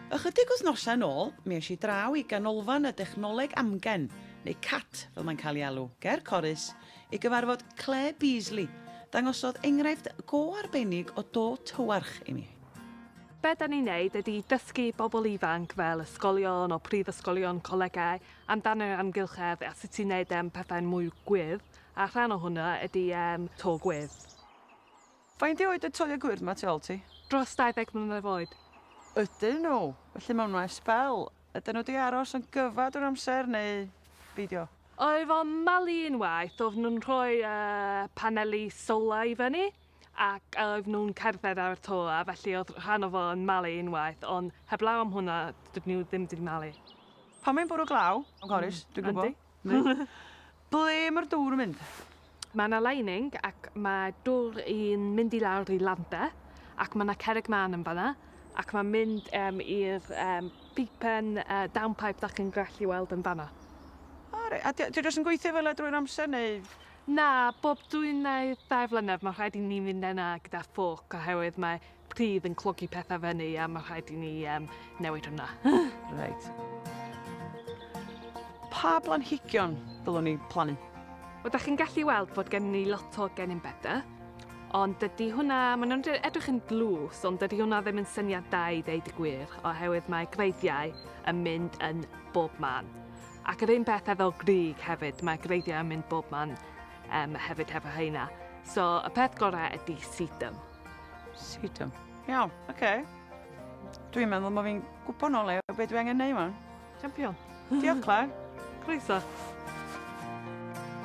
Ychydig wythnosau yn ôl, mi es i draw i Ganolfan y Dechnoleg Amgen, neu cat fel mae'n cael ei alw, ger Corris, i gyfarfod Claire Beasley, dangosodd enghraifft go arbennig o do tywarch i mi. Be da ni'n neud ydi dysgu bobl ifanc fel ysgolion o prifysgolion, colegau, amdan yr amgylchedd a sut i neud e'n pethau'n mwy gwyrdd, a rhan o hwnna ydi e'n to gwyrdd. Faint oed y toia gwyrdd 'ma tu ol ti? Dros 20 mlynedd oed. Ydyn nhw, felly maen nhw ar sbel. Ydyn nhw 'di aros yn gyfad o'r amser neu beidio? Oedd o'n malu unwaith, oedden nhw'n rhoi paneli solar i fyny ac oedden nhw'n cerdded ar y toia felly oedd rhan o fo yn malu unwaith ond heblaw am hwnna dydyn nhw ddim 'di malu. Pan mae'n bwrw glaw, Morris, dwi'n gwybod. Ble mae'r dwr yn mynd? Mae yna lining ac mae dwr yn mynd i lawr i Landa ac mae yna cerrig mân yn fan'na ac mae'n mynd yym i'r yym pipen yy downpipe dach chi'n gallu weld yn fan'na. O reit, a 'di o 'di o jyst yn gweithio fel 'a drwy'r amser neu...? Na, bob dwy neu dair blynedd mae'n rhaid i ni fynd yna gyda ffôc oherwydd mae Bydd yn clogi pethau fyny a mae rhaid i ni um, newid hwnna. Reit. Pa blanhigion ddylwn ni plannu? Wel, da chi'n gallu weld bod gen ni lot o gennym bedau, ond dydy hwnna, maen nhw'n edrych yn dlws, ond dydy hwnna ddim yn syniad da i ddeud y gwir, oherwydd mae greiddiau yn mynd yn bob man. Ac yr un peth efo grig hefyd, mae greiddiau yn mynd bob man um, hefyd hefo heina. So, y peth gorau ydy sedum. Sut am? Iawn, oce. Okay. Dwi'n meddwl mae fi'n gwybod nôl e, beth dwi angen neud yma. Champion. Diolch, Claire. Croeso.